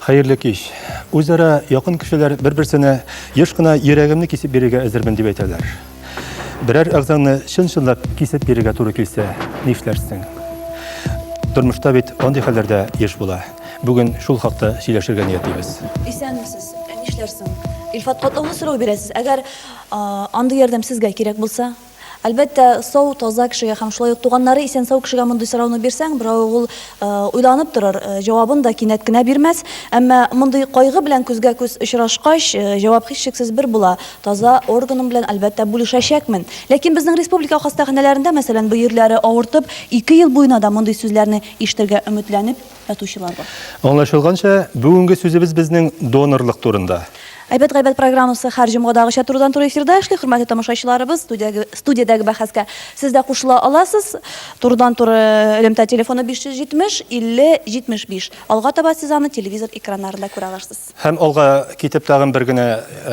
Хәерле кич. Үзара якын кешеләр бер-берсенә еш кына йөрәгемне кисеп бирергә әзермен дип әйтәләр. Берәр әгъзаңны чын-чынлап кисеп бирергә туры килсә, нишләрсең? Тормышта бит андый хәлләр дә еш була. Бүген шул хакта сөйләшергә ниятлибез. Исәнмесез. Ә нишләрсең? Илфат, катлаулы сорау бирәсез. Әгәр андый ярдәм сезгә кирәк булса, Әлбәттә, сау, таза кешегә һәм шулай ук туганнары исән-сау кешегә мондый сорауны бирсәң, берәү ул уйланып торыр, җавабын да кинәт кенә бирмәс. Әмма мондый кайгы белән күзгә-күз очрашкач, җавап һичшиксез бер була, таза органым белән, әлбәттә, бүлешәчәкмен. Ләкин безнең республика хастаханәләрендә, мәсәлән, бөерләре авыртып, ике ел буена да мондый сүзләрне ишетергә өметләнеп, татучылар бар. Аңлашылганча, бүгенге сүзебез безнең донорлык турында. Әйбәт гайбәт программасы һәр җомгадагыча турыдан туры эфирда эшли. Хөрмәтле тамашачыларыбыз, студиядәге, студиядәге бәхәскә сез дә кушыла аласыз. Турыдан туры элемтә телефоны 570 50 75. Алга таба сез аны телевизор экраннарында күрә алырсыз. Һәм алга китеп тагын бер генә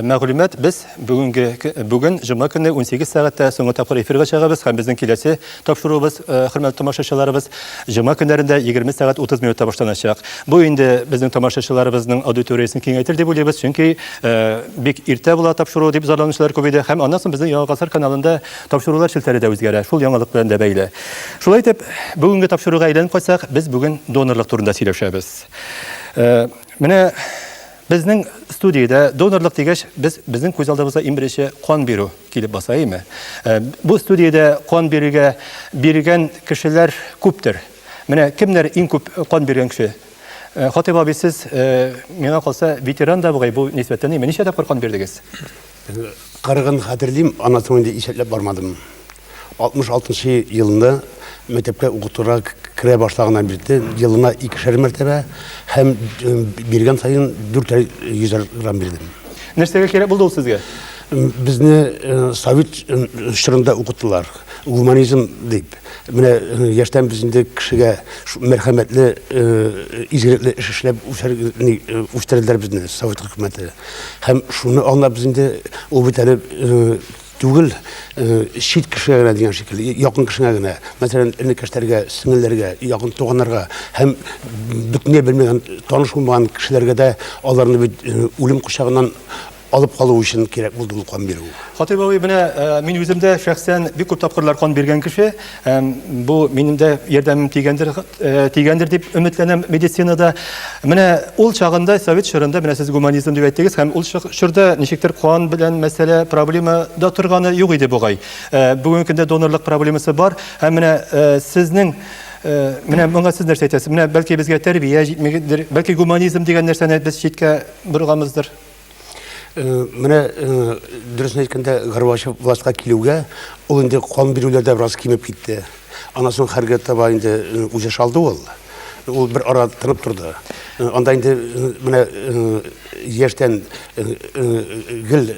мәгълүмат, без бүгенге бүген җомга көне 18 сәгатьтә соңгы тапкыр эфирга чыгабыз һәм безнең киләсе тапшыруыбыз, хөрмәтле тамашачыларыбыз, җомга көннәрендә 20 сәгать 30 минутта башланачак. Бу инде безнең тамашачыларыбызның аудиториясен киңәйтер дип уйлыйбыз, чөнки бик иртә була тапшыру дип зарланучылар күп иде. Һәм аннан соң безнең Яңа гасыр каналында тапшырулар челтәре дә үзгәрә, шул яңалык белән дә бәйле. Шулай итеп, бүгенге тапшыруга әйләнеп кайтсак, без бүген донорлык турында сөйләшәбез. Менә безнең студиядә донорлык дигәч, без безнең күз алдыбызда иң беренче кан бирү килеп баса, әйме? Э, бу студиядә кан бирүгә биргән кешеләр күптер. Менә кемнәр иң күп кан биргән кеше? Э, Хатыйп абый, сез э, миңа калса ветеран да бугай бу нисбәттән, әйме? Ничә тапкыр кан бирдегез? Кырыгын хәтерлим, аннан соң инде исәпләп бармадым. 66 елында мәктәпкә укытырга керә башлаганнан бирле елына икешәр мәртәбә һәм биргән сайын дүртәр йөзәр грамм бирдем. Нәрсәгә кирәк булды ул сезгә? Безне совет чорында укыттылар. гуманизм дип менә яшьтән без инде кешегә мәрхәмәтле изгелекле эш эшләп үстерделәр безне совет хөкүмәте һәм шуны аңлап без инде ул бит әле түгел чит кешегә генә дигән шикелле якын кешегә генә мәсәлән энекәшләргә сеңелләргә якын туганнарга һәм бөтенләй белмәгән таныш булмаган кешеләргә дә аларны бит үлем кочагыннан алып калу өчен кирәк булды ул кан бирү. Хатыйп абый, менә э, мин үзем дә шәхсән бик күп тапкырлар кан биргән кеше. Бу минем дә ярдәмем тигәндер, э, тигәндер дип өметләнәм медицинада. Менә ул чагында совет чорында менә сез гуманизм дип әйттегез һәм ул чорда ничектер кан белән мәсьәлә проблема да торганы юк иде бугай. Э, бүгенге көндә донорлык проблемасы бар һәм менә сезнең Э, менә моңа сез нәрсә әйтәсез менә бәлки безгә тәрбия җитмәгәндер бәлки гуманизм дигән нәрсәне без читкә борганбыздыр Э, менә э, дөресен әйткәндә горбачев властька килүгә ул инде кан бирүләр дә бераз кимеп китте аннан соң хәргә таба инде э, үзе шалды ул ул бер ара тынып торды анда инде менә яшьтән гел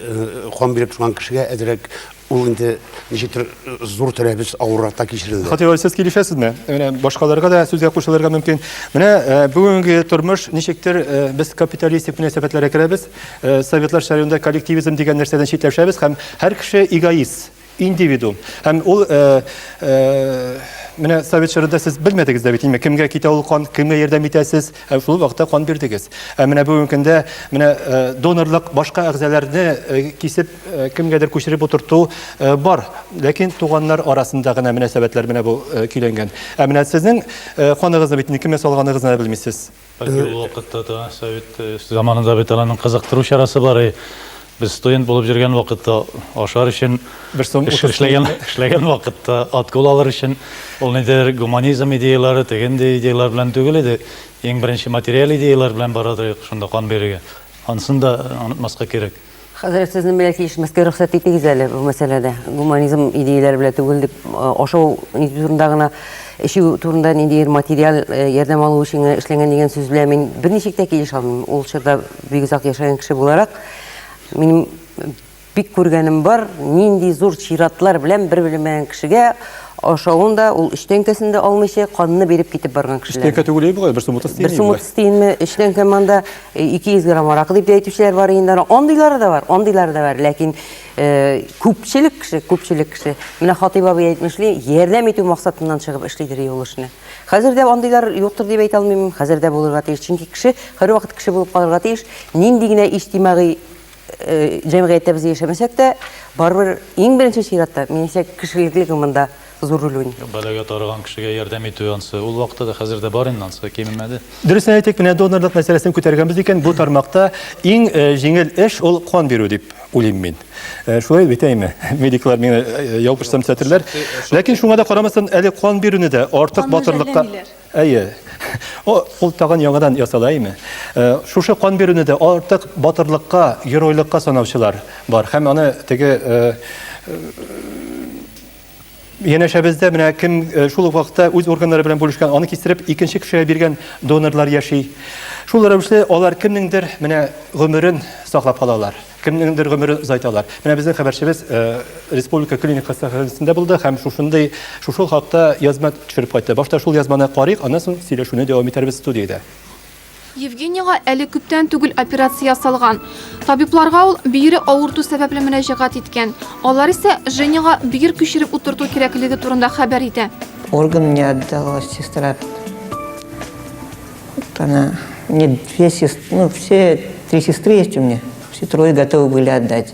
кан биреп торган кешегә әзерәк Ул инде ничектер зур тәрәбез авырракта кичерелде. Хатыйр, сез килешәсезме? Менә башкаларга да сүзгә кушылырга мөмкин. Менә э, бүгенге тормыш ничектер э, без капиталистик мөнәсәбәтләргә керәбез. Э, советлар шәрәүндә коллективизм дигән нәрсәдән читләшәбез һәм һәр кеше эгоист, индивидуум. Һәм ул менә совет чорында сез белмәдегез дә бит инде кемгә китә ул кан кемгә ярдәм итәсез ә шул вакытта кан бирдегез ә менә бүгенге көндә менә донорлык башка әгъзаларны кисеп Э, кемгәдер күчереп утырту э, бар. Ләкин туганнар арасында гына мөнәсәбәтләр менә бу э, көйләнгән. Ә менә сезнең ханыгызны бит никемә салганыгызны да белмисез. Бәлки ул вакытта да совет заманында бит аның кызыктыру чарасы бар. Без студент булып йөргән вакытта ашар өчен бер сум эшләгән эшләгән вакытта откол алыр өчен ул нидер гуманизм идеялары, тегенде идеялар белән түгел иде. Иң беренче материаль идеялар белән барады шунда кан бирергә. Ансын да онытмаска кирәк. Хәзрәт, сезнең белән килешмәскә рөхсәт итегез әле бу мәсьәләдә. Гуманизм идеяләре белән түгел дип, ашау нинди турында гына, эчү турында ниндидер материаль ярдәм алу өчен генә эшләнгән дигән сүз белән мин берничек тә килешә алмыйм. Ул чорда бик озак яшәгән кеше буларак, минем бик күргәнем бар, нинди зур чиратлар белән бер белмәгән кешегә ашавын да, ул өч тәңкәсен дә алмыйча, канны биреп китеп барган кешеләр. Өч тәңкә түгел бит болай, бер сумлык тиенме? Бер сумлык тиенме, өч тәңкә монда. 200 грамм аракы дип тә әйтүчеләр бар инде аны. Андыйлары да бар, андыйлары да бар. Ләкин э, күпчелек кеше, күпчелек кеше, менә Хатыйп абый әйтмешли, ярдәм итү максатыннан чыгып эшлидер юл эшне. Хәзер дә андыйлар юктыр дип әйтә алмыйм, хәзер дә булырга тиеш. Чөнки кеше һәрвакыт кеше булып калырга тиеш. Нинди генә иҗтимагый э, җәмгыятьтә без яшәмәсәк тә, барыбер иң беренче чиратта, минемчә, кешелекле гомында за рулюнь. Бәлагә тарыган кешегә ярдәм итү ансы ул вакытта да хәзер дә бар инде ансы кимемәде. Дөресен әйтик, менә донорлык мәсьәләсен күтәргәнбез икән, бу тармакта иң э, җиңел эш ул кан бирү дип уйлыйм мин. Э, шулай бит әйме? Медиклар миңа э, яу пешсәм сәтерләр. Ләкин шуңа да карамастан, әле кан бирүне дә артык батырлыкка Әйе. Ул тагын яңадан ясала әйме? Э, шушы кан бирүне дә артык батырлыкка, геройлыкка санаучылар бар. Һәм аны теге Янәшәбездә менә кем э, шул ук вакытта үз органнары белән бүлешкән, аны кистереп икенче кешегә биргән донорлар яши. Шул рәвешле алар кемнеңдер менә гомерен саклап калалар, кемнеңдер гомерен озайталар. Менә безнең хәбәрчебез э, республика клиник хастаханәсендә булды һәм шушындый шушы хакта язма төшереп кайтты. Башта шул язманы карыйк, аннан соң сөйләшүне дәвам итәрбез студиядә. Евгенийга әле күптән түгел операция ясалган. Табибларга ул бөере авырту сәбәпле мөрәҗәгать иткән. Алар исә Женяга бөер күчереп утырту кирәклеге турында хәбәр итә. Орган мне отдала сестра. Вот она. Мне две сестры, ну, все три сестры есть у меня. Все трое готовы были отдать.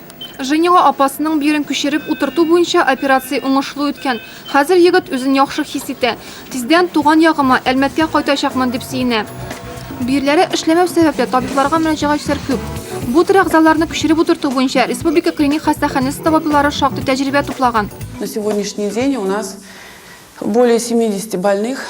Женила апасының бирен күчереп утырту буенча операция уңышлы үткән. Хәзер егет үзен яхшы хис итә. Тиздән туган ягыма, Әлмәткә кайтачакмын, дип сөенә. Бөерләре эшләмәү сәбәпле, табибларга мөрәҗәгатьчеләр күп. Бу төр әгъзаларны күчереп утырту буенча республика клиник хастаханәсе табиблары шактый тәҗрибә туплаган. На сегодняшний день у нас Более 70 больных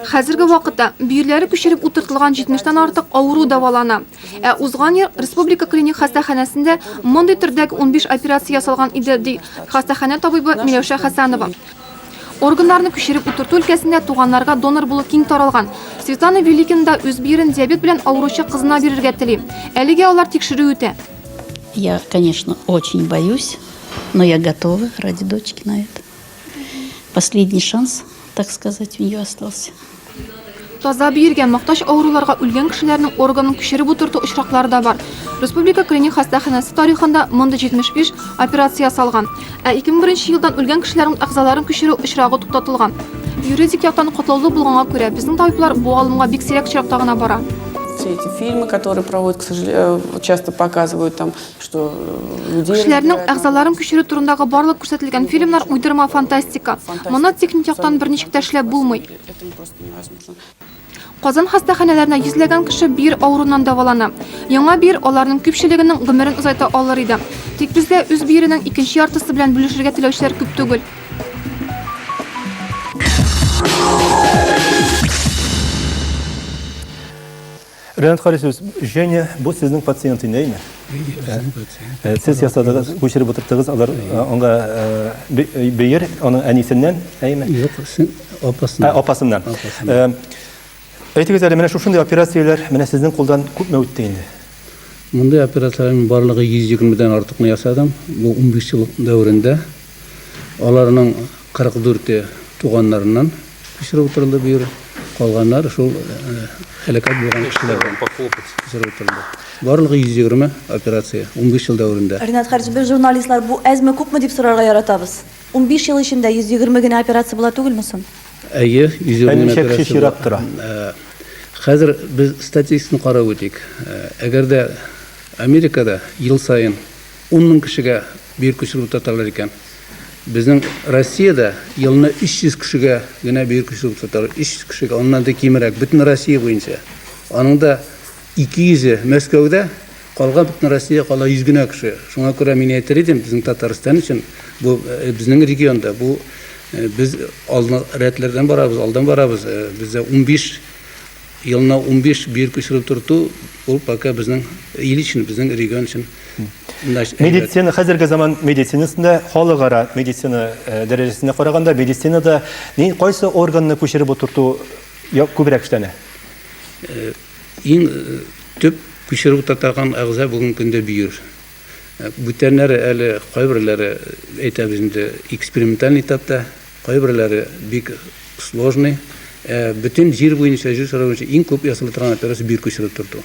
Хәзерге вакытта бөерләре күчереп утыртылган 70 тан артык авыру дәвалана. Ә узган ел республика клиник хастаханәсендә мондый төрдәге 15 операция ясалган иде, ди хастаханә табибы Миләүшә Хәсәнова. Органнарны күчереп утырту өлкәсендә туганнарга донор булу киң таралган. Светлана Великина да үз бөерен диабет белән авыручы кызына бирергә тели. Әлегә алар тикшерү үтә. Я, конечно, очень боюсь, но я готова ради дочки на это. Последний шанс, так сказать, у нее остался. Таза биергә мохтаҗ авыруларга үлгән кешеләрнең органын күчереп утырту очраклары да бар. Республика клиник хастаханәсе тарихында мондый 75 операция ясалган. Ә 2001 елдан үлгән кешеләрнең әгъзаларын күчерү очрагы туктатылган. Юридик яктан котлаулы булганга күрә, безнең табиблар бу алымга бик сирәк очракта гына бара. Все эти фильмы, которые проводят, к сожалению, э, часто показывают там что людей... Кешеләрнең әгъзаларын күчерү турындагы барлык күрсәтелгән фильмнар уйдырма фантастика. Моны техник яктан берничек тә эшләп булмый. Казан хастаханәләренә йөзләгән кеше бир авыруннан дәвалана. Яңа бир аларның күпчелегенең гомерен озайта алыр иде. Тик бездә үз биренең икенче яртысы белән бүлешергә теләүчеләр күп түгел. Ренат Харисович, Женя, бу сезнең пациент инде, әйме? Э, сез ясадыгыз, күчереп утырттыгыз, алар э, аңа э, бөер, аның әнисеннән, әйме? Юк, апасыннан. Апасыннан. Әйтегез әле, менә шушындый операцияләр менә сезнең кулдан күпме үтте инде? Мондый операцияләрнең барлыгы 120 дән артыкны ясадым. Бу 15 ел дәверендә. Аларның 44 е туганнарыннан күчереп утырылды бу ел, калганнары шул һәлакәт булган кешеләрдән күчереп утырылды. Барлыгы 120 операция, унбиш ел дәверендә. Ринат Хаҗи, без журналистлар бу әзме-күпме дип сорарга яратабыз. Унбиш ел эчендә 120 генә операция була түгелме соң? Әйе, 120 генә операция була. Ә ничә кеше чират тора? Хәзер без статистиканы карап үтик. Әгәр дә Америкада ел саен Ун мең кешегә бөер көчлекле тоталар икән. Безнең Россиядә елны 300 кешегә генә бөер көчлек тоталар. 300 кешегә, аннан да кимерәк, бөтен Россия буенча. Аның да 200-е Мәскәүдә, калган бөтен Россия кала 100 генә кеше. Шуңа күрә мин әйтер идем, безнең Татарстан өчен, бу э, безнең регионда, бу э, без алны рәтләрдән барабыз, алдан барабыз. Э, бездә 15 Елына унбиш бөер күчереп торту, ул пока безнең ил өчен, безнең регион өчен. Медицина, хәзерге заман медицинасында, халыкара медицина э, дәрәҗәсенә караганда, медицинада ни, кайсы органны күчереп утырту күбрәк эшләнә? Э, иң э, төп күчереп утыртаган әгъза бүген көндә бөер. Бүтәннәре әле кайберләре әйтәбез инде эксперименталь этапта, Кайберләре бик сложный, ә бөтен җир буенча, җир шары буенча иң күп ясала торган операция бөер күчереп төртү.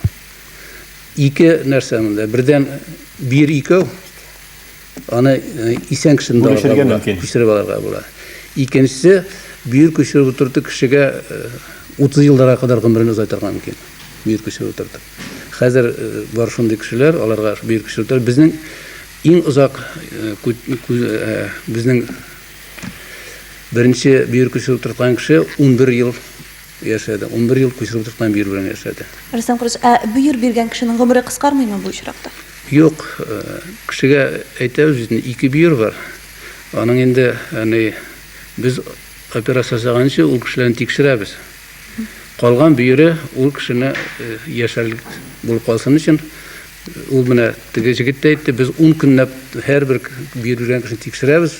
Ике нәрсә монда, бердән бөер икәү, аны э, исән кешене дә алырга була, күчереп алырга була. Икенчесе, бөер күчереп утырту кешегә 30 э, елларга кадәр гомерен озайтырга мөмкин. Бөер күчереп утырту. Хәзер э, бар шундый кешеләр, аларга бөер күчереп утырту. Безнең иң озак безнең Беренче бөер күчереп утырткан кеше унбер ел яшәде. Унбер ел күчереп утырткан бөер белән яшәде. Рөстәм Кырыч, ә бөер биргән кешенең гомере кыскармыймы бу очракта? Юк, э, кешегә әйтәбез бит, ике бөер бар. Аның инде, яни, без операция ясаганчы ул кешеләрне тикшерәбез. Калган бөере ул кешене э, яшәрлек булып калсын өчен Ул менә теге җегет тә әйтте, без ун көнләп һәрбер бөер биргән кешене тикшерәбез.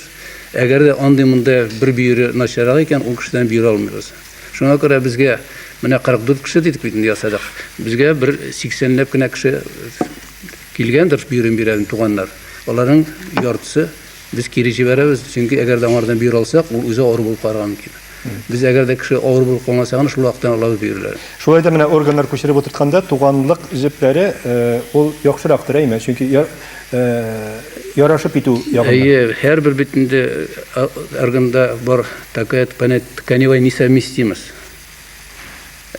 Әгәр дә андый-мондый бер бөере начаррак икән, ул кешедән бирә алмыйбыз. Шуңа күрә безгә менә 44 кеше дидек бит инде ясадык. Безгә бер 80 ләп кенә кеше килгәндер бөерен бирә, туганнар. Аларның яртысы Без кире җибәрәбез, чөнки әгәр дә аңардан бөер алсак, ул үзе авыру булып калырга мөмкин. Без әгәр дә кеше авыру булып калган чагында шул вакыттан алабыз бөерләрен. Шулай да менә органнар күчереп утыртканда туганлык җепләре ул яхшырактыр, әйме? Чөнки ярашып итү ягыннан. Әйе, һәрбер бит инде органда бар такая тканевая несовместимость.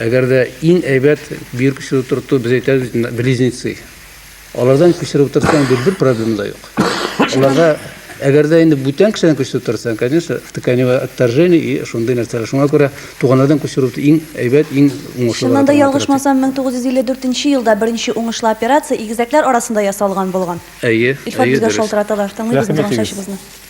Әгәр дә иң әйбәт бөер күчереп утырту, без әйтәбез бит инде близнецы. Алардан күчереп утырсаң, бит бер проблема да юк. Аларга әгәр дә инде бүтән кешедән күчереп утырсаң, конечно, тканевое отторжение и шундый нәрсәләр. Шуңа күрә туганнардан күчерү иң әйбәт, иң уңышлы. Чыннан да ялгышмасам, 1954 елда беренче уңышлы операция игезәкләр арасында ясалган булган. Әйе, Илфат әйе, безгә дөрес. шалтыраталар. Тыңлыйбыз Рәхим инде итегез. чәчебезне.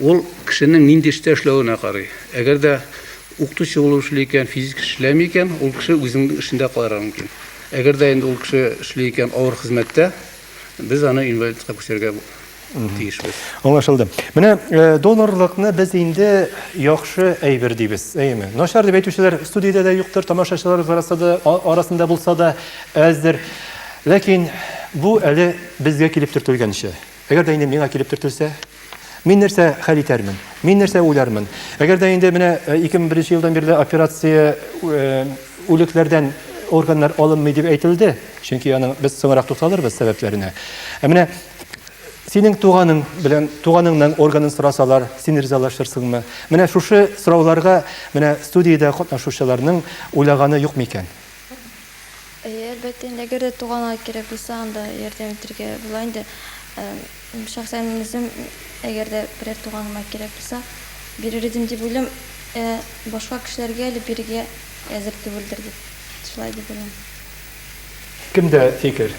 Ул кешенең нинди эштә эшләвенә карый. Әгәр дә укытучы булып эшли икән, физик эш эшләми икән, ул кеше үзенең эшендә калырга мөмкин. Әгәр дә инде ул кеше эшли икән авыр хезмәттә, без аны инвалидка күчерергә тиешбез. Аңлашылды. Менә донорлыкны без инде яхшы әйбер дибез, әйеме? Начар дип әйтүчеләр студиядә дә юктыр, тамашачылар арасында булса да әздер. Ләкин бу әле безгә килеп төртелгәнче. Әгәр дә инде миңа килеп төртелсә, мин нәрсә хәл итәрмен? Мин нәрсә уйлармын? Әгәр дә инде менә 2001 э, елдан бирле операция э, үлекләрдән органнар алынмый дип әйтелде, чөнки аның без соңрак тукталырбыз сәбәпләренә. Ә менә синең туганың белән туганыңның органын сорасалар, син ризалашырсыңмы? Менә шушы сорауларга менә студиядә катнашучыларның уйлаганы юк микән? Әйе, әлбәттә инде, әгәр дә туганга кирәк булса, анда ярдәм итәргә була инде. Шәхсән мин үзем, әгәр дә берәр туганыма кирәк булса, бирер идем дип уйлыйм. Ә башка кешеләргә әле бирергә әзер түгелдер дип, шулай дип уйлыйм. Кемдә фикер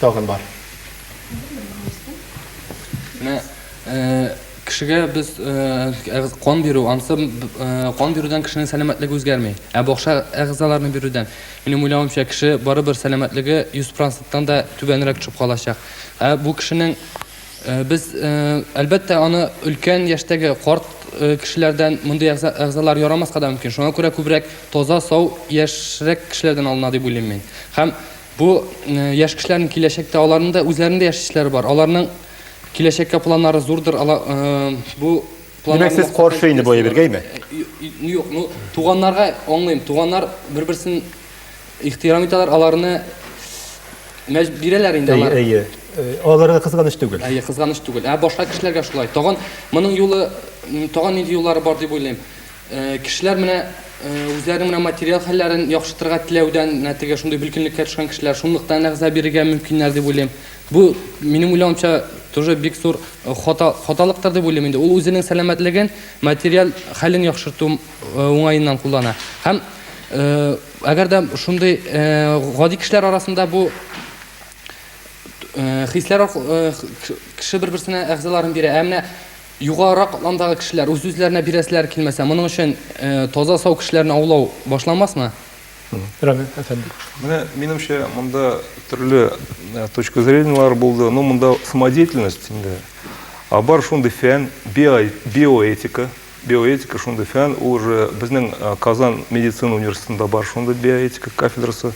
тагын бар? Менә, Кешегә без әгъз кан бирү, ансы кан бирүдән кешенең сәламәтлеге үзгәрми. Ә бакча әгъзаларны бирүдән, минем уйлавымча, кеше барыбер сәламәтлеге 100%тан да түбәнрәк төшеп калачак. Ә бу кешенең без әлбәттә аны өлкән яшьтәге карт кешеләрдән мондый әгъзалар ярамаска да мөмкин. Шуңа күрә күбрәк таза, сау, яшьрәк кешеләрдән алына дип уйлыйм мин. Һәм бу яшь кешеләрнең киләчәктә аларның да үзләренең дә яшь эшләре бар. Аларның Киләчәккә планнары зурдыр, ала э, бу Димәк, сез каршы инде бу әйбергәме? Э, юк, ну туганнарга аңлыйм. Туганнар бер-берсен ихтирам итәләр, аларны мәҗ бирәләр инде алар. Әйе, әйе. Аларга кызганыч түгел. Әйе, кызганыч түгел. Ә башка кешеләргә шулай. Тагын моның юлы, тагын нинди юллары бар дип уйлыйм. Э, кешеләр менә э, үзләренең менә материал хәлләрен яхшыртырга теләүдән, нәтиҗә шундый билкинлеккә төшкән кешеләр шунлыктан әгъза бирергә мөмкиннәр дип уйлыйм. Бу, минем уйлавымча, тоже бик зур хата, хаталыктыр дип уйлыйм инде. Ул үзенең сәламәтлеген, материаль хәлен яхшырту уңаеннан куллана. Һәм әгәр дә шундый гади кешеләр арасында бу хисләр кеше бер-берсенә әгъзаларын бирә. Ә менә югарырак катламдагы кешеләр үз-үзләренә бирәселәр килмәсә, моның өчен таза сау кешеләрне аулау башламасмы? Рами әфәнде. Менә минемчә монда төрле э, точка зренияләр булды. Ну, монда самодеятельность инде. А бар шундый фән, биоэтика. Биоэтика шундый фән, ул уже безнең э, Казан медицина университетында бар шундый биоэтика кафедрасы,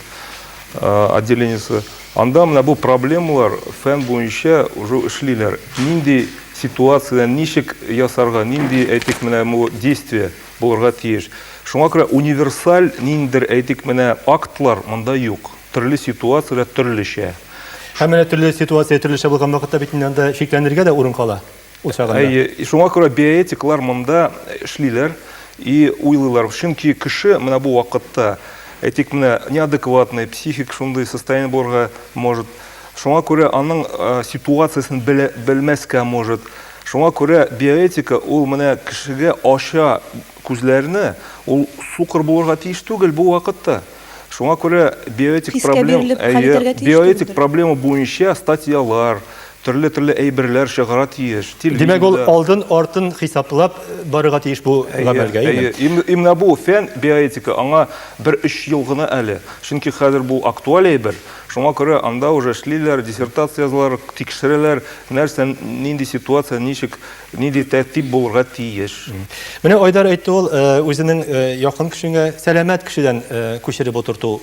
э, отделениесе. Анда менә бу проблемалар фән буенча уже эшлиләр. Нинди ситуацияне ничек ясарга, нинди әйтик менә бу действие Булырга тиеш. Шуңа күрә универсаль ниндидер, әйтик, менә актлар монда юк. Төрле ситуацияләр төрлечә. Һәм менә төрле ситуация төрлечә булган вакытта бит инде анда шикләнергә дә урын кала ул чагында. Әйе, шуңа күрә биоэтиклар монда эшлиләр и уйлыйлар. Чөнки кеше менә бу вакытта, әйтик, менә неадекватный, психик шундый состояние булырга может. Шуңа күрә аның ситуациясен белә, белмәскә может. Шуңа күрә биоэтика ул менә кешегә ача күзләрне, ул сукыр булырга тиеш түгел бу вакытта. Шуңа күрә биоэтик проблем, әйе, биоэтик проблема буенча статьялар, төрле-төрле әйберләр чыгара тиеш. Димәк, ул алдын, артын хисаплап барырга тиеш бу гамәлгә, әйе. Әйе, именно бу фән, биоэтика, аңа бер өч ел гына әле. Чөнки хәзер бу актуаль әйбер. Шуңа күрә анда уже эшлиләр, диссертация язалар, тикшерәләр, нәрсә, нинди ситуация, ничек, нинди тәртип булырга тиеш. Менә Айдар әйтте ул, э, үзенең э, якын кешеңә сәламәт кешедән э, күчереп утырту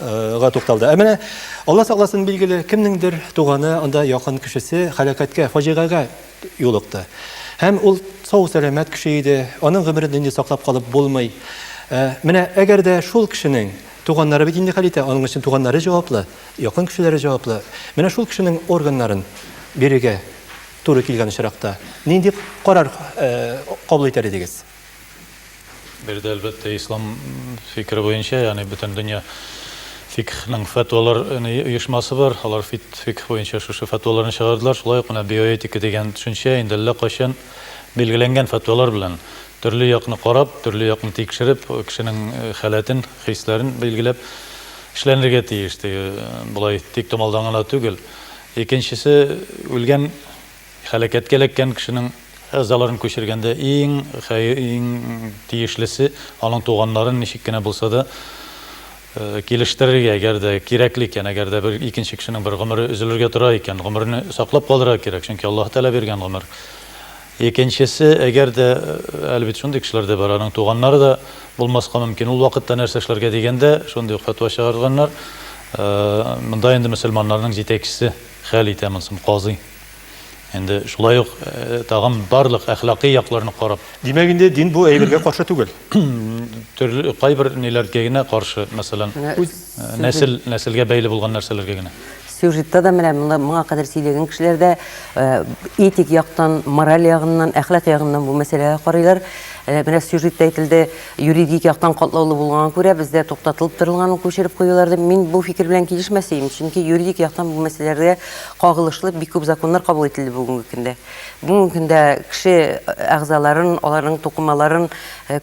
га тукталды. Ә менә Алла сакласын билгеле, кемнеңдер туганы, анда якын кешесе халакәткә, фаҗигагә юлыкты. Һәм ул сау сәламәт кеше иде, аның гомерен инде саклап калып булмый. Э, менә әгәр дә шул кешенең Туганнары бит инде хәл итә, аның өчен туганнары җаваплы, якын кешеләре җаваплы. Менә шул кешенең органнарын бирергә туры килгән очракта, нинди карар кабул итәр идегез? Бер дә, әлбәттә, ислам фикере буенча, ягъни бөтен дөнья фикхның фәтвалар оешмасы бар, алар фикх буенча шушы фәтваларны чыгардылар. Шулай ук менә биоэтика дигән төшенчә инде әллә кайчан, Билгеләнгән фәтвалар белән төрле якны карап, төрле якны тикшереп, кешенең э, халәтен, хисләрен билгеләп эшләнергә тиеш. Теге э, болай тик томалдан гына түгел. Икенчесе үлгән хәләкәткә эләккән кешенең әгъзаларын күчергәндә иң хәй- иң тиешлесе аның туганнарын ничек кенә булса да Килештерергә, әгәр дә кирәкле икән, әгәр дә бер икенче кешенең бер гомере өзелергә тора икән, гомерне саклап калырга кирәк, чөнки Аллаһы Тәгалә биргән гомер. Икенчесе, әгәр дә, әле бит шундый кешеләр дә бар, аның туганнары да булмаска мөмкин, ул вакытта нәрсә эшләргә дигәндә, шундый ук фәтва чыгарганнар, монда инде мөселманнарның җитәкчесе хәл итә монысын, казый. Инде шулай ук э, тагын барлык әхлакый якларны карап. Димәк инде дин бу әйбергә каршы түгел. Төрле кайбер ниләргә генә каршы, мәсәлән, э, нәсел нәселгә бәйле булган нәрсәләргә генә. Сюжетта да менә моңа кадәр сөйләгән кешеләр дә э, этик яктан, мораль ягыннан, әхлак ягыннан бу мәсьәләгә карыйлар. Менә сюжетта әйтелде, Юридик яктан катлаулы булганга күрә, бездә туктатылып торылганын күчереп куюларды мин бу фикер белән килешмәс идем, чөнки юридик яктан бу мәсьәләләргә кагылышлы бик күп законнар кабул ителде бүгенге көндә. Бүгенге көндә кеше әгъзаларын, аларның тукымаларын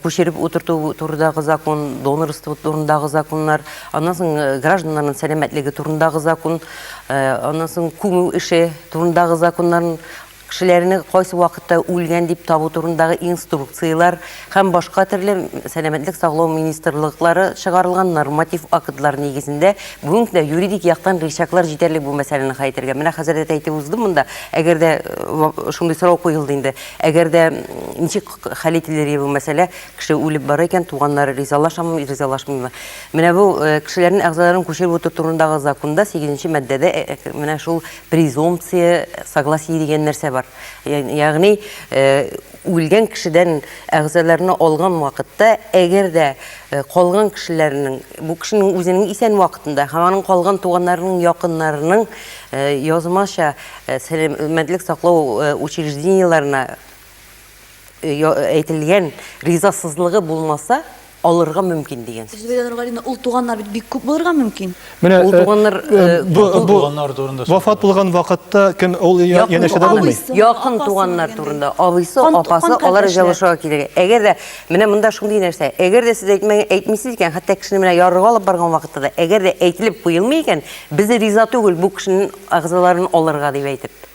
күчереп утырту турындагы закон, донорство турындагы законнар, аннан соң гражданнарның сәламәтлеге турындагы закон, аннан соң күмү эше турындагы законнар, кешеләрне кайсы вакытта үлгән дип табу турындагы инструкцияләр һәм башка төрле сәламәтлек саклау министрлыклары чыгарылган норматив актлар нигезендә бүгенге көндә юридик яктан рычаглар җитәрлек бу мәсьәләне хәл итәргә. Менә хәзер дә әйтеп уздым монда, әгәр дә э, шундый сорау куелды инде, әгәр дә ничек хәл ителер бу мәсьәлә, кеше үлеп бара икән, туганнары ризалашамы, ризалашмыймы? Менә бу э, кешеләрнең әгъзаларын күчереп утыру турындагы законда 8 маддәдә э, менә шул Презумпция согласии дигән нәрсә бар. Ягъни, үлгән кешедән әгъзаларны алган вакытта, әгәр дә калган кешеләрнең, бу кешенең үзенең исән вакытында һәм аның калган туганнарының, якыннарының язмача сәламәтлек саклау учреждениеләренә э, әйтелгән ризасызлыгы булмаса, алырга мөмкин дигән сүз. Зөбәйдә Нургалина, ул туганнар бит бик күп булырга мөмкин. Менә ул э, туганнар э, э, бу туганнар турында вафат булган вакытта кем ул янәшәдә булмый? Якын туганнар турында, абыйсы, апасы, алар җавышуга килергә. Әгәр дә менә монда шундый нәрсә, әгәр дә сез әйтмәгән, әйтмисез икән, хәтта кешене менә ярыга алып барган вакытта да, әгәр дә әйтелеп куелмый икән, без риза түгел бу кешенең әгъзаларын алырга дип әйтеп.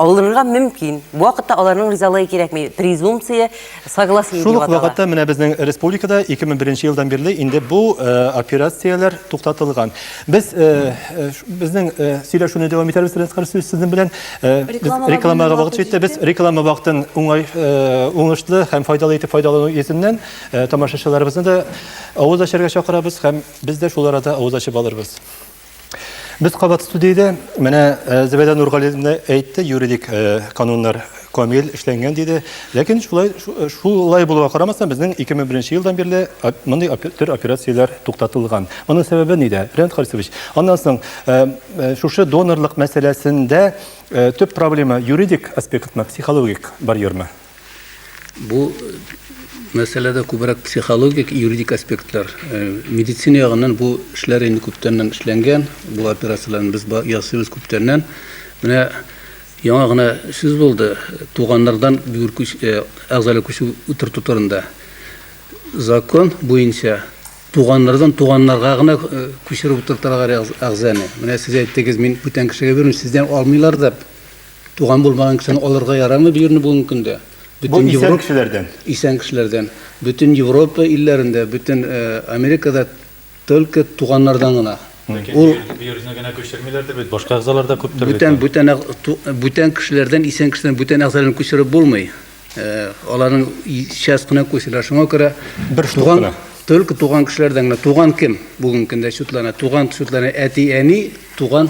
Алынырга мөмкин. Бу вакытта аларның ризалыгы кирәкми. Презумпция согласия дип атала. Шул ук вакытта менә безнең республикада 2001 елдан бирле инде бу э, операцияләр туктатылган. Без э, э, безнең сөйләшүне дәвам итәрбез Ренскар сүз сезнең белән. Рекламага вакыт җитте. Без реклама вакытын уңай уңышлы һәм файдалы итеп файдалану йөзеннән тамашачыларыбызны да авыз ачарга чакырабыз һәм без дә шул арада авыз ачып алырбыз. Без кабат студиядә, менә э, Зәбәдә Нургалиевна әйтте, юридик э, кануннар камил эшләнгән диде. Ләкин шулай э, шулай булуга карамастан, безнең 2001 елдан бирле мондый төр операцияләр туктатылган. Моның сәбәбе нидә? Ренат Харисович, аннан соң шушы донорлык мәсьәләсендә төп проблема юридик аспектмы, психологик барьермы? Бу мәсьәләдә күбрәк психологик, юридик аспектлар. Э, медицина ягыннан бу эшләр инде күптәннән эшләнгән. Бу операцияләрне без ясыйбыз күптәннән. Менә яңа гына сүз булды туганнардан бюр күч, э, әгъзалар күчү утырту турында. Закон буенча туганнардан туганнарга гына э, күчереп утырталар әгъзаны. Менә сез әйттегез, мин бүтән кешегә бирмим, сездән алмыйлар дип. Туган булмаган кешене алырга ярамый бу җирне бүгенге көндә. Бу исән кешеләрдән. Исән кешеләрдән. Бөтен Европа илләрендә, бөтен Америкада только туганнардан гына. Ул бирүне генә күчермиләрдер бит, башка әгъзалар да күптер бит. Бүтән бүтән бүтән кешеләрдән исән кешедән бүтән әгъзаларын күчереп булмый. Аларның часть кына күчерә. Шуңа күрә бер туган только туган кешеләрдән генә. Туган кем бүгенге көндә чутлана? Туган чутлана әти-әни, туган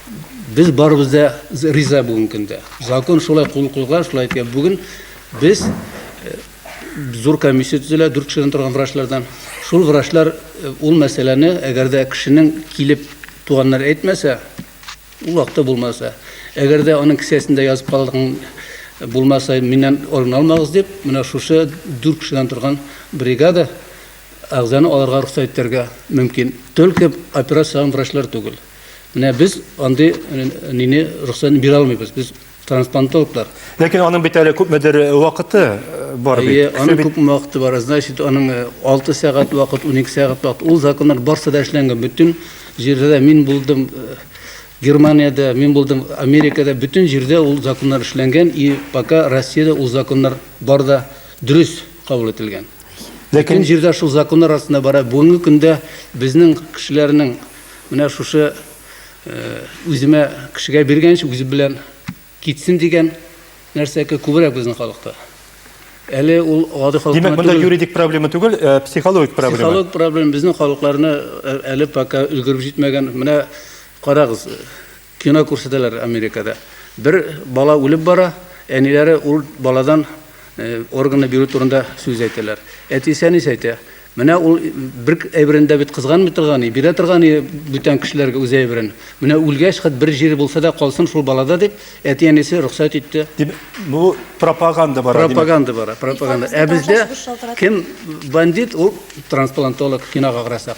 Без барыбыз да риза бүген көндә. Закон шулай кул куйган, шулай итә. Бүген без э, зур комиссия төзелә, дүрт кешедән торган врачлардан. Шул врачлар э, ул мәсьәләне, әгәр дә кешенең килеп туганнар әйтмәсә, ул вакытта булмаса, әгәр дә аның кесәсендә язып калган булмаса миннән орын алмагыз дип менә шушы дүрт кешедән торган бригада әгъзаны алырга рөхсәт итәргә мөмкин только операциягә врачлар түгел Менә без андый нине рөхсәтен бирә алмыйбыз. Без трансплантологлар. Ләкин аның бит әле күпмедер э, вакыты э, бар бит. Әйе, аның күп вакыты бар. Значит, аның 6 э, сәгать вакыт, 12 сәгать вакыт. Ул законнар барсы да эшләнгән. Бөтен җирдә мин булдым Германиядә, мин булдым Америкада, бөтен җирдә ул законнар эшләнгән и пока Россиядә ул законнар бар да дөрес кабул ителгән. Ләкин җирдә шул законнар астында бара. Бүгенге көндә безнең кешеләрнең Менә шушы үземә кешегә биргәнче үзе белән китсен дигән нәрсәкә күбрәк безнең халыкта. Әле ул гади халыкта. Димәк, монда юридик проблема түгел, э, психологик проблема. Психологик проблема безнең халыкларны э, әле пока өлгереп җитмәгән. Менә карагыз, Кино күрсәтәләр Америкада. Бер бала үлеп бара, әниләре ул баладан органны бирү турында сүз әйтәләр. Әтисе әнисе әйтә, менә ул бер әйберен дә бит кызганмый торган и, бирә торган и бүтән кешеләргә үз әйберен. Менә үлгәч, хат бер җире булса да калсын шул балада дип, әти-әнисе рөхсәт итте. Дип, бу пропаганда бара, димәк. Пропаганда бара, пропаганда. Ә бездә кем бандит, ул трансплантолог, кинога карасак.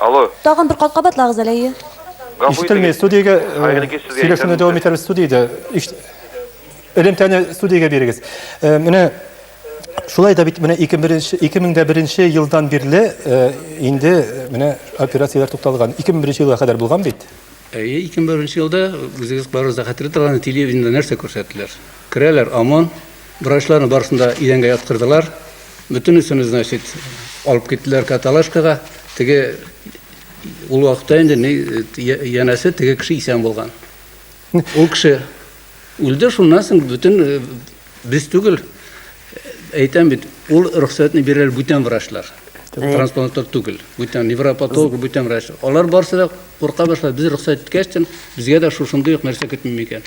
Алло. Тагын бер кат кабатлагыз әле, әйе. Ишетелми, студиягә сөйләшүне дәвам итәрбез студиядә. Элемтәне студиягә бирегез. Менә шулай да бит менә 2001 елдан бирле инде менә операцияләр тукталган. 2001 елга кадәр булган бит. Әйе, 2001 елда үзегез барыгыз да хәтерләп торган телевидениедә нәрсә күрсәттеләр? Керәләр ОМОН, Врачларны барысын да идәнгә яткырдылар. Бөтенесен, значит, алып киттеләр каталашкага. Теге ул вакытта инде ни янәсе теге кеше исән булган. Ул кеше үлде, шуннан соң бөтен э, без түгел, э, әйтәм бит, ул рөхсәтне бирәләр бүтән врачлар. Трансплантатор түгел, бүтән невропатолог, бүтән врач. Алар барсы да курка башлады. Без рөхсәт иткәч, безгә дә шушындый ук нәрсә көтмим икән.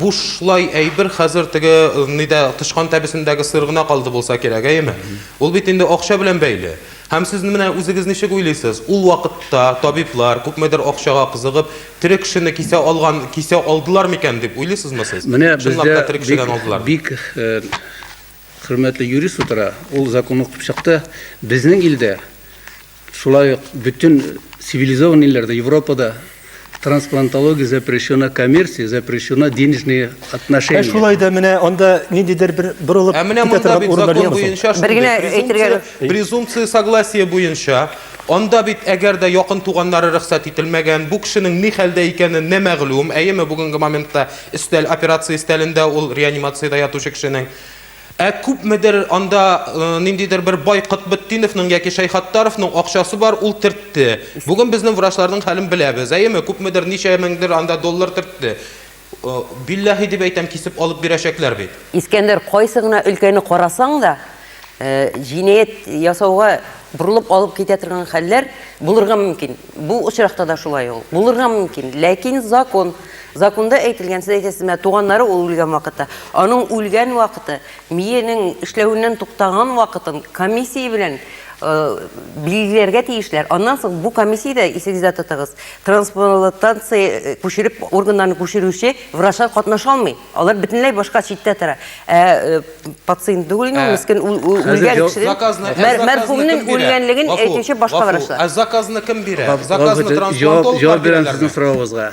Бушлай әйбер хәзер теге нидә тычкан тәбесендәге сыр гына калды булса кирәк, әйеме? Ул бит инде акча белән бәйле. Һәм сез менә үзегез ничек уйлыйсыз, ул вакытта табиблар, күпмедер акчага кызыгып, тере кешене кисә алган, кисә алдылар микән дип уйлыйсызмы сез? Менә бездә бик, бик хөрмәтле юрист утыра, ул закон укып чыкты. Безнең илдә Шулай ук бөтен цивилизован илләрдә, Европада трансплантология запрещена, коммерция запрещена, денежные отношения. Ә шулай да менә анда ниндидер бер борылып Ә менә монда бит закон буенча шундый презумпция согласия буенча Анда бит әгәр дә якын туганнары рөхсәт ителмәгән, бу кешенең ни хәлдә икәне не мәгълүм, әйеме бүгенге моментта өстәл операция өстәлендә ул реанимациядә ятучы кешенең Ә күпмедер анда ниндидер бер бай Котбетдиновның яки Шәйхаттаровның акчасы бар, ул төртте. Бүген безнең врачларның хәлен беләбез, әйеме? Күпмедер ничә меңдер анда доллар төртте. Билләһи дип әйтәм, кисеп алып бирәчәкләр бит. Искәндәр, кайсы гына өлкәне карасаң да, җинаять ясауга борылып алып китә торган хәлләр булырга мөмкин. Бу очракта да шулай ул. Булырга мөмкин, ләкин закон. Законда әйтелгән, сез әйтәсез, менә туганнары ул үлгән вакытта, аның үлгән вакыты, миенең эшләвеннән туктаган вакытын комиссия белән билгеләргә тиешләр. Аннан соң бу комиссиядә, исегездә тотыгыз, трансплантация күчереп, органнарны күчерүче врачлар катнаша алмый. Алар бөтенләй башка читтә тора. Ә пациент түгел инде, мискен үлгән кешенең, мәрхүмнең үлгәнлеген әйтүче башка врачлар. Ә заказны кем бирә? Заказны трансплантолог бирә. Җавап бирәм сезнең соравыгызга.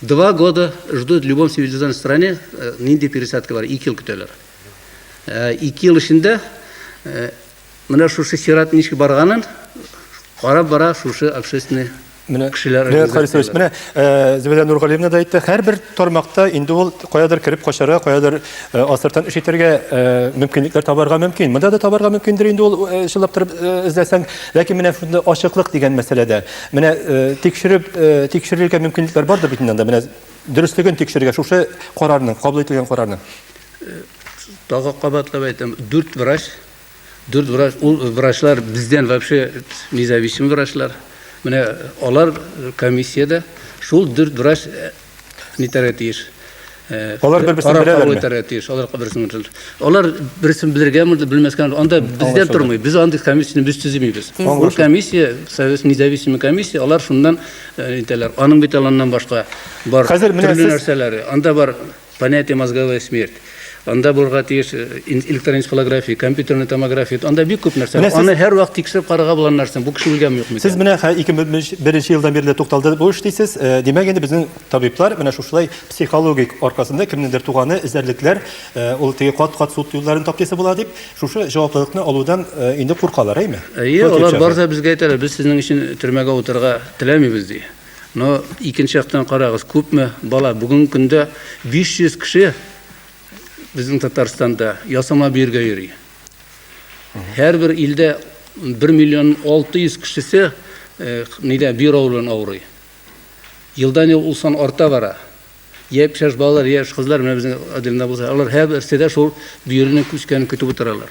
Два года ждут в любом цивилизованной стране, э, нинди пересадка бар, ике ел көтәләр. Э, ике ел эчендә э, менә шушы чират ничек барганын карап бара шушы общественный Менә кешеләр Леонид Харисович, менә э, Зөбәдә Нургалиевна да әйтте, һәрбер тармакта инде ул каядыр кереп качара, каядыр э, асыртан эш итәргә э, мөмкинлекләр табарга мөмкин. Монда да табарга мөмкиндер инде ул э, чыллап торып э, эзләсәң, ләкин менә шунда ачыклык дигән мәсьәләдә. Менә тикшереп тикшерергә мөмкинлекләр бардыр бит инде анда. Менә дөреслеген тикшерергә шушы карарның, кабул ителгән карарның. Тагы кабатлап әйтәм, дүрт врач, дүрт врач, ул врачлар бездән вообще независим врачлар. Менә алар комиссиядә шул дүрт врач Нитәргә тиеш? Алар бер-берсен беләләрме? Карап итәргә тиеш. Алар берсен беләләр. Алар берсен белергәме, белмәскәме? Анда бездә тормый. Без андый комиссияне без төзимибез. Бу комиссия, совет независимый комиссия, алар шуннан итәләр. Аның бит аланнан башка бар төрле нәрсәләре. Анда бар понятие мозговая смерть. Анда булырга тиеш э, электрон энцефалография, компьютерный томография. Анда бик күп нәрсә. Менә Аны һәр вакыт тикшереп карарга булган нәрсә. Бу кеше үлгәнме юкмы? Сез менә хә- 2001 елдан бирле тукталды бу эш дисез. Э, Димәк, инде безнең табиблар менә шушылай психологик аркасында кемнеңдер туганы эзәрлекләр, э, ул теге кат-кат суд юлларын таптысы була дип, шушы җаваплылыкны алудан э, инде куркалар, әйме? Әйе, Против алар чагы. барса безгә әйтәләр, без сезнең өчен төрмәгә утырырга теләмибез ди. Но икенче яктан карагыз, күпме бала бүгенге көндә 500 кеше безнең Татарстанда ясама биргә йөри. Һәрбер илдә 1 миллион 600 кешесе э, нидә бюро белән авырый. Елдан-ел ул сан арта бара. Япь-яшь балалар, яшь кызлар менә безнең отделда булса, алар һәрберсе дә шул бөеренең күчкәнен көтеп утыралар.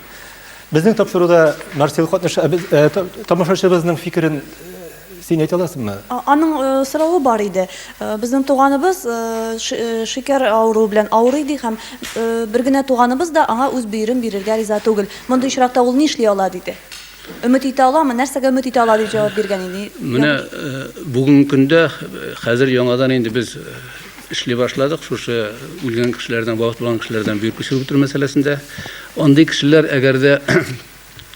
Безнең тапшыруда Марсел катнаш ә без ә, та- тамашачыбызның фикерен э, син әйтә аласыңмы? А- Аның э, соравы бар иде. Э, Безнең туганыбыз э, ши- э, шикәр авыруы белән авырый ди һәм э, бер генә туганыбыз да аңа үз бөерен бирергә риза түгел. Мондый очракта ул нишли ала? диде. Өмет итә аламы? Нәрсәгә өмет итә ала дип җавап биргән иде? Менә бүгенге көндә хәзер яңадан инде без эшли башладык шушы үлгән кешеләрдән вафат булган кешеләрдән бөер күчереп бетерү мәсьәләсендә. Андый кешеләр әгәр дә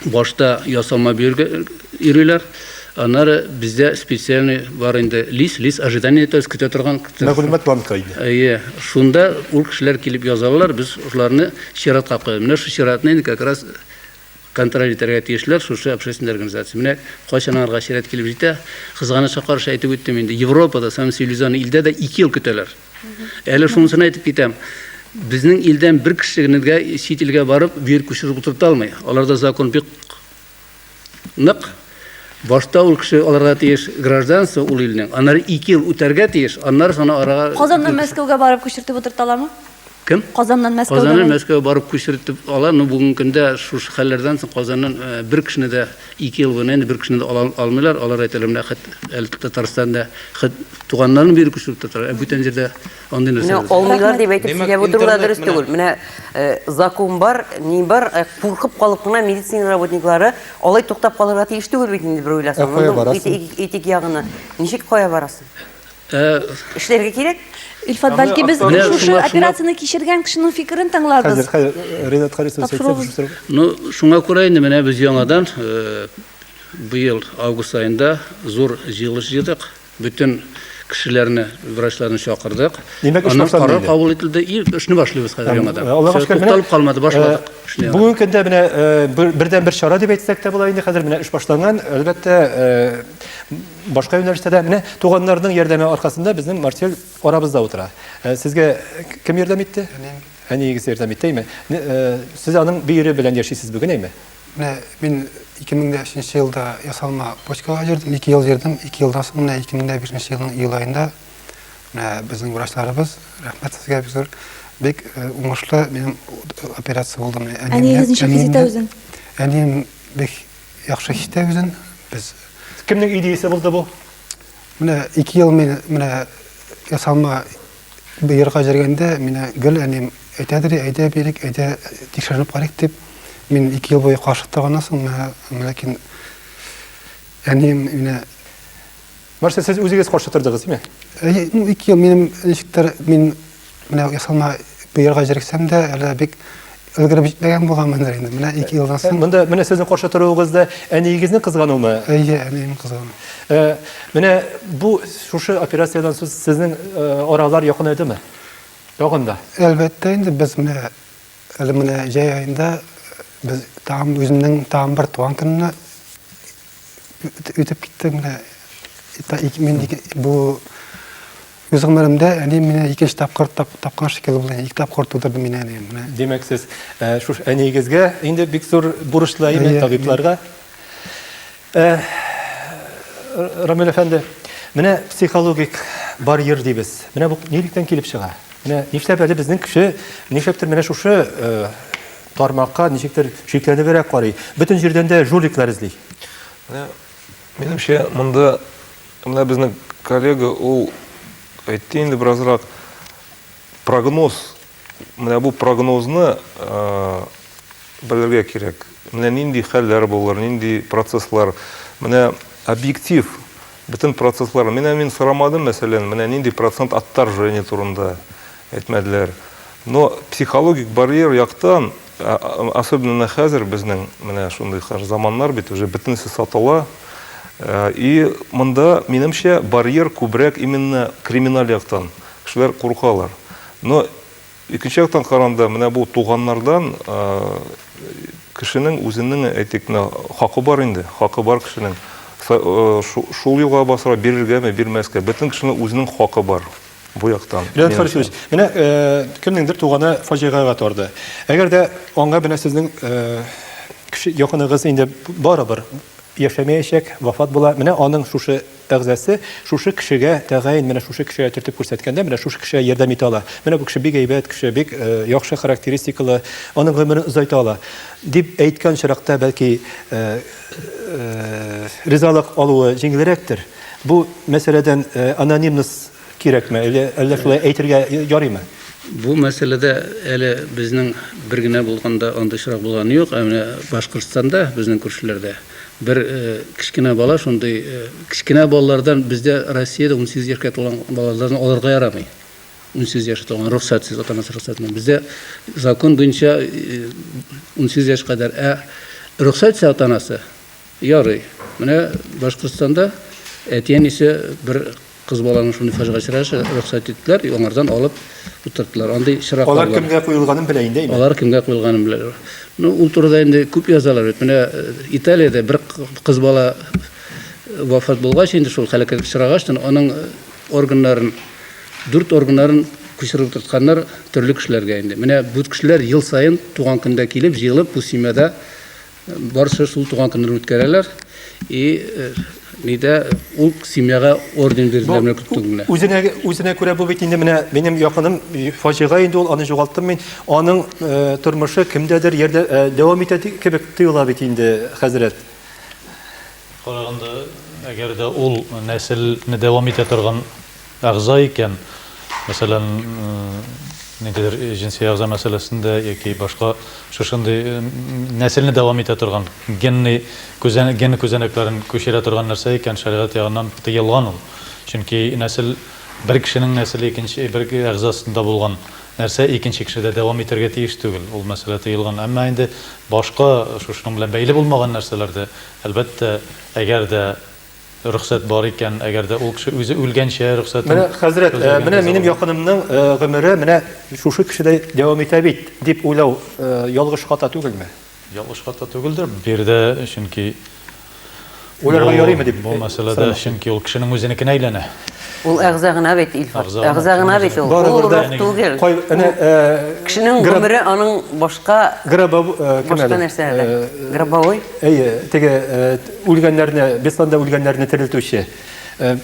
башта ясалма бөергә йөриләр, аннары бездә специальный бар инде лист, лист ожидания, то есть көтә торган. Мәгълүмат банкы инде. Әйе, шунда ул кешеләр килеп язалар, без шуларны чиратка куябыз. Менә шул чиратны инде как раз Контроль итәргә тиешләр шушы общественный организация. Менә кайчан аңарга чират килеп җитә, кызганычка каршы әйтеп үттем инде, Европада, самый цивилизованный илдә дә ике ел көтәләр. Әле шунысын әйтеп китәм, безнең илдән бер кеше генә чит илгә барып, бу ел күчереп утырта алмый. Аларда закон бик нык. Башта ул кеше алырга тиеш гражданство ул илнең, аннары ике ел үтәргә тиеш, аннары соны арага... Казаннан Мәскәүгә барып күчертеп утырталамы? Кем? Казаннан Мәскәүгә. Казаннан Мәскәүгә барып күчертеп ала, но бүгенге көндә шушы хәлләрдән соң Казаннан э, бер кешене дә ике ел буена инде бер кешене дә ала алмыйлар, алар әйтәләр, менә хәт әле Татарстанда хәт туганнарын биреп күчереп тоталар, ә бүтән җирдә Андый нәрсә. Менә алмыйлар дип әйтеп сөйләп утыру да дөрес түгел. Менә э, закон бар, ни бар, э, куркып калып кына медицина работниклары алай туктап калырга тиеш түгел бит инде бер уйласаң. Ә барасың? Этик ягына. Ничек кая барасың? Э, Эшләргә кирәк? Илфат, бәлки без шушы операцияне кичергән кешенең фикерен тыңларбыз. Хәзер, хәзер Ренат Харисов сөйләсә, Ну, шуңа күрә инде менә без яңадан быел август айында зур җыелыш җыйдык. Бөтен кешеләрне, врачларны чакырдык. Димәк, эш башланды. Карар кабул ителде. И, эшне башлыйбыз хәзер яңадан. Э, Аллага шөкер, тукталып калмады, башладык. Э, бүгенге көндә менә э, бердән бер чара дип әйтсәк тә була инде. Хәзер менә эш башланган. Әлбәттә, башка юнәлештә дә менә туганнарның ярдәме аркасында безнең Марсель арабызда утыра. Сезгә кем ярдәм итте? Әниегез ярдәм итте, әйме? Сез аның бөере белән яшисез бүген, әйме? Менә мин 2005 елда ясалма почкага йөрдем, 2 ел йөрдем, 2 елдан соң менә 2005 елның июль аенда менә безнең врачларыбыз, рәхмәт сезгә бик зур, бик э, уңышлы минем операция булды. Әниегез ничек хис итә үзен? Әнием бик яхшы хис итә үзен. Без Кемнең идеясе булды бу? Менә 2 ел мин менә ясалма Бу ерга җәргәндә мина гел әнием әйтә дери, әйдә бирик, әйдә тикшеренеп карыйк дип. Мин ике ел буе каршы торганнан соң, ләкин әнием мина Барсы сез үзегез каршы тордыгыз, димә? Әйе, ну, ике ел минем ничектер мин менә ясалма бу ярга җәргсәм дә, әле бик өлгереп җитмәгән булганмындыр инде. Менә ике елдан соң. Монда менә сезнең каршы торуыгыз да әниегезне кызгануымы? Әйе, әнием кызгану. Э, менә бу шушы операциядән соң сезнең э, аралар якынайдымы? Тагын да. Әлбәттә инде без менә әле менә җәй айында без тагын үземнең тагын бер туган көнне үтеп китте менә мин бу үз гомеремдә әни менә икенче тапкыр тапкан шикелле булды ике тапкыр тудырды мин әни менә димәк сез э, шуш әниегезгә инде бик зур бурычлы әйме табибларга э, рамил әфәнде менә психологик барьер дибез менә бу нилектән килеп чыга менә нишләп әле безнең кеше нишләптер менә шушы э, Тармакка ничектер шикләнебрәк карый. Бөтен җирдән дә жуликлар эзли. Менә минемчә, монда менә безнең коллега ул әйтте инде беразрак прогноз. Менә бу прогнозны белергә кирәк. Менә нинди хәлләр булыр, нинди процесслар. Менә объектив бөтен процесслар. Менә мин сорамадым, мәсәлән, менә нинди процент отторжение турында. Әйтмәделәр. Но психологик барьер яктан, особенно хәзер безнең менә шундый хәзер заманнар бит, уже бөтенесе сатыла. Э, и монда, минемчә, барьер күбрәк именно криминаль яктан. Кешеләр куркалар. Но икенче яктан каранда, менә бу туганнардан э, кешенең үзенең, әйтик, менә хакы бар инде, хакы бар кешенең. Э, шул юлга басыра бирергәме, бирмәскә. Бөтен кешенең үзенең хакы бар. бу яктан. Леонид Фарисович, менә э, кемнеңдер туганы фаҗигагә торды. Әгәр дә аңа менә сезнең э, кеше якыныгыз инде барыбер яшәмәячәк, вафат була. Менә аның шушы әгъзасы шушы кешегә тәгаен менә шушы кешегә төртеп күрсәткәндә, менә шушы кешегә ярдәм итә ала. Менә бу кеше бик әйбәт кеше, бик э, яхшы характеристикалы, аның гомерен озайта ала дип әйткән чиракта бәлки ризалык алуы җиңелрәктер. Бу мәсьәләдән анонимность кирәкме, әллә әллә шулай әйтергә ярыймы? Бу мәсьәләдә әле безнең бер генә булганда андый очрак булганы юк, ә менә Башкортстанда, безнең күршеләрдә бер кечкенә бала шундый, кечкенә балалардан бездә Россиядә унсигез яшькә тулган балалардан алырга ярамый. 18 яшь тулган рөхсәтсез, ата-анасы рөхсәт белән. Бездә закон буенча 18 яшь кадәр. Ә рөхсәтсез ата-анасы ярый. Менә Башкортстанда әти-әнисе бер кыз баланың шундый фаҗига очрашы рөхсәт иттеләр, аңардан алып утырттылар. Андый чираклар бар. Алар кемгә куелганын белә инде. Алар кемгә куелганын белә. Ну, ул турыда инде күп язалар бит. Менә Италиядә бер кыз бала вафат булгач, инде шул һәлакәткә очрагач, аның органнарын Дүрт органнарын күчереп утыртканнар төрле кешеләргә инде. Менә бу кешеләр ел саен туган көндә килеп, җыелып, бу семьяда барысы шул туган көннәрен үткәрәләр. И нидә ул семьяга орден бирделәр менә күк түгелә. Үзенә үзенә күрә бу бит инде менә минем якыным фаҗига инде ул аны югалттым мин. Аның э, тормышы кемдәдер ярдә э, дәвам итә кебек тоела бит инде хәзрәт. Караганда, әгәр дә ул нәселне дәвам итә торган әгъза икән, мәсәлән, ниндидер җенси әгъза мәсьәләсендә яки башка шушындый нәселне дәвам итә торган генный күзән ген күзәнәкләрен күчерә торган нәрсә икән, шәригать ягыннан тыелган ул. Чөнки нәсел бер кешенең нәселе икенче бер әгъзасында булган нәрсә икенче кешедә дәвам итәргә тиеш түгел. Ул мәсьәлә тыелган. Әмма инде башка шушының белән бәйле булмаган нәрсәләрдә Әлбәттә, әгәр дә рөхсәт бар икән, әгәр дә ул кеше үзе үлгәнчә рөхсәтен Менә, хәзрәт, э, өзмәгәнгә менә минем залым. якынымның э, гомере менә шушы кешедәй дәвам итә бит, дип уйлау э, ялгыш хата түгелме? Ялгыш хата түгелдер, бу йирдә, чөнки Уйларга бу, ярыймы дип бу мәсьәләдә, сорыйм. чөнки ул кешенең үзенекенә әйләнә. Ул әгъза гына бит, Илфар. Әгъза гына, Әгъза гына бит ул. Барыбер Ул дә- рух түгел. Кай, әнә, э, Кешенең граб- гомере аның башка грабов- э, кем башка әле? нәрсәләр. Э, Гробовой. Әйе, теге э, т- үлгәннәрне, Бесланда үлгәннәрне терелтүче. Э,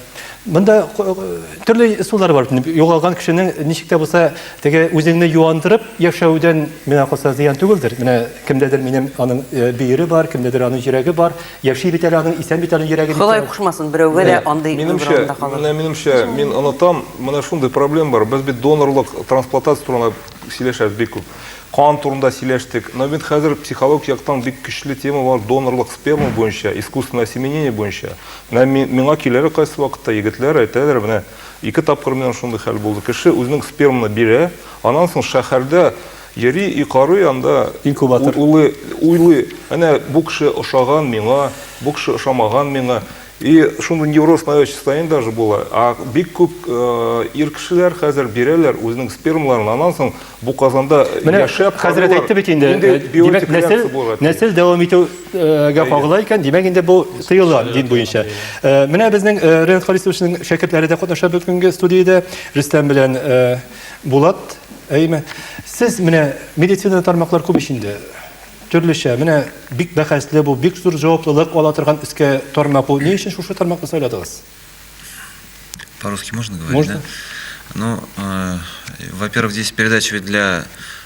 Монда ко- э, төрле ысуллар бар. Югалган кешенең ничек тә булса, теге үзеңне юандырып яшәүдән миңа калса зыян түгелдер. Менә кемдәдер минем аның э, бөере бар, кемдәдер аның йөрәге бар. Яши бит әле аның, исән бит аның йөрәге. Ходай кушмасын, берәүгә дә андый минемчә, менә минемчә, мин онытам, менә шундый проблем бар. Без бит донорлык, трансплантация турында сөйләшәбез бик күп. Кан турында сөйләштек. Но бит хәзер психологик яктан бик көчле тема бар донорлык сперма буенча, искусственное осеменение буенча. Менә миңа киләләр кайсы вакытта егетләр әйтәләр, менә ике тапкыр минем шундый хәл булды. Кеше үзенең сперманы бирә, аннан соң шәһәрдә Йөри и карый анда, Инкубатор. улый, уйлый, әнә бу кеше ошаган миңа, бу кеше ошамаган миңа. И шундый невроз навет состояние даже була. А бик күп э, ир кешеләр хәзер бирәләр үзенең спермаларын, аннан соң бу казанда Менә яшәп хәзрәт карыйлар. әйтте бит инде. Нинди э, Димәк, биотик нәсел, реакция булырга тиеш. нәсел дәвам итүгә Әйе. кагыла икән, димәк инде бу тыела дин буенча. Э, Менә безнең э, Ренат Харисовичның шәкертләре дә катнаша бүгенге студиядә Рөстәм белән э, Булат, әйме, сез менә медицина тармаклар күп ич инде. Төрлечә, менә бик бәхәсле бу, бик зур җаваплылык ала торган эскә тармак бу. Ни өчен шушы тармакны сайладыгыз? По-русски можно говорить? Можно. Да? Ну, э, во-первых, здесь передача ведь для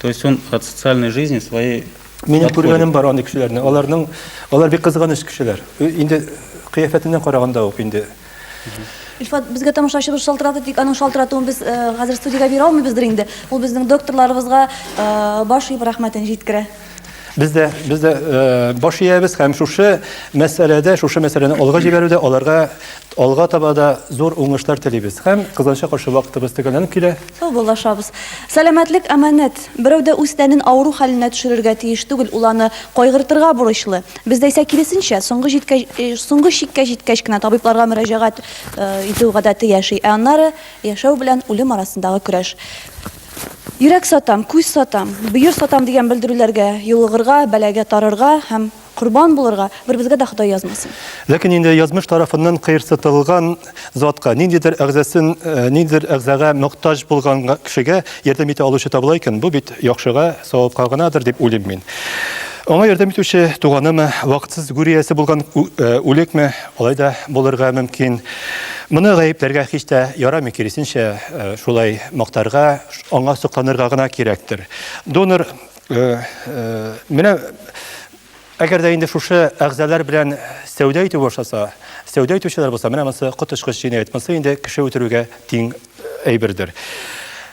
То есть он от социальной жизни своей Минем күргәнем бар андый кешеләрне. Аларның алар бик кызганыч кешеләр. Инде кыяфәтеннән караганда ук инде. Илфат, безгә тамашачыбыз шалтырады, тик аның шалтыратуын без э, хәзер студиягә бирә алмыйбыздыр инде. Ул безнең докторларыбызга э, баш иеп рәхмәтен җиткерә. Без дә, без дә э, баш иябез һәм шушы мәсьәләдә, шушы мәсьәләне алга җибәрүдә аларга алга таба да зур уңышлар телибез. Һәм кызганча каршы вакытыбыз төгәлләнеп килә. Сау булашабыз. Сәламәтлек аманәт. Берәү дә үз тәнен авыру хәленә төшерергә тиеш түгел, ул аны кайгыртырга бурычлы. Бездә исә киресенчә, соңгы җиткәч, э, соңгы чиккә җиткәч кенә табибларга мөрәҗәгать э, итү гадәте яши. Ә аннары яшәү белән үлем арасындагы көрәш. Йөрәк сатам, күз сатам, бөер сатам дигән белдерүләргә юлыгырга, бәлагә тарырга һәм корбан булырга беребезгә дә Ходай язмасын. Ләкин инде язмыш тарафыннан кыерсытылган затка, ниндидер әгъзасын ниндидер әгъзага мохтаҗ булган кешегә ярдәм итә алучы табыла икән, бу бит яхшыга, савапка гынадыр дип уйлыйм мин. Аңа ярдәм итүче туганымы, вакытсыз гүриясе булган үлекме, Алай да булырга мөмкин. Моны гаепләргә һич тә ярамый, киресенчә, э, шулай мактарга, аңа сокланырга гына кирәктер. Донор э, э, менә әгәр дә инде шушы әгъзалар белән сәүдә итү башласа, сәүдә итүчеләр булса, менә монысы коточкыч җинаять. Монысы инде кеше үтерүгә тиң әйбердер.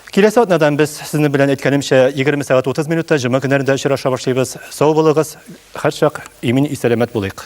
Киләсе атнадан без сезнең белән әйткәнемчә 20 сәгать 30 минутта җомга көннәрендә очраша башлыйбыз. Сау булыгыз, һәрчак имин исәләмәт булыйк.